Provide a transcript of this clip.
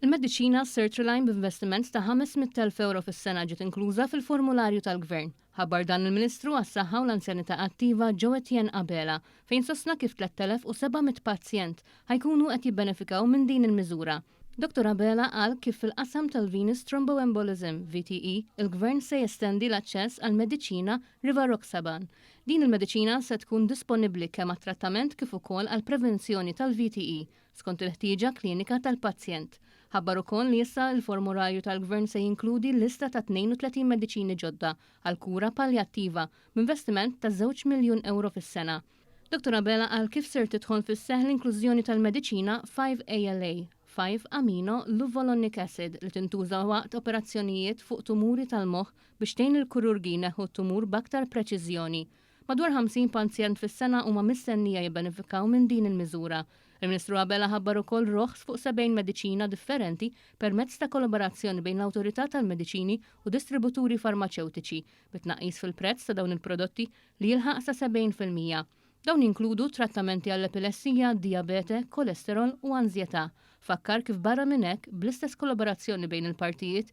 Il-mediċina Sertraline b'investiment ta' 500,000 euro fis-sena ġiet inkluża fil-formularju tal-Gvern. Ħabbar dan il-Ministru għas-Saħħa u l-Anzjanità Attiva Joe Etienne Abela fejn sostna kif 3,700 pazjent ħa jkunu qed jibbenefikaw minn din il-miżura. Dottor Abela qal kif fil-qasam tal-Venous Thromboembolism, VTE, il-Gvern se jestendi l-aċċess għall-mediċina Rivaroxaban. Din il-mediċina se tkun disponibbli kemm għat-trattament kif ukoll għall-prevenzjoni tal-VTE, skont il-ħtieġa klinika tal-pazjent. Ħabbar ukoll li issa l-formurarju tal-Gvern se jinkludi l-lista ta' 32 mediċini ġodda għall-kura paljattiva b'investiment ta' żewġ miljun ewro fis-sena. Dottor Abela qal kif ser tidħol fis-seħħ l-inklużjoni tal-mediċina 5-ALA, 5-amino luvolonik acid, li tintuża waqt operazzjonijiet fuq tumuri tal-moħħ biex tgħin lill-kururgi jneħħu t-tumur b'aktar preċiżjoni. Madwar 50 panzjent fis-sena huma mistennija jibbenefikaw minn din il-miżura. Il-Ministru Abela ħabbar ukoll roħs fuq 70 mediċina differenti permezz ta' kollaborazzjoni bejn l-Awtorità tal-Mediċini u distributuri farmaċewtiċi, bi tnaqqis fil-prezz ta' dawn il-prodotti li jilħaq sa 70 fil-mija. Dawn jinkludu trattamenti għall-epilessija, dijabete, kolesterol u anżjetà. Fakkar kif barra minn hekk, bl-istess kollaborazzjoni bejn il-partijiet,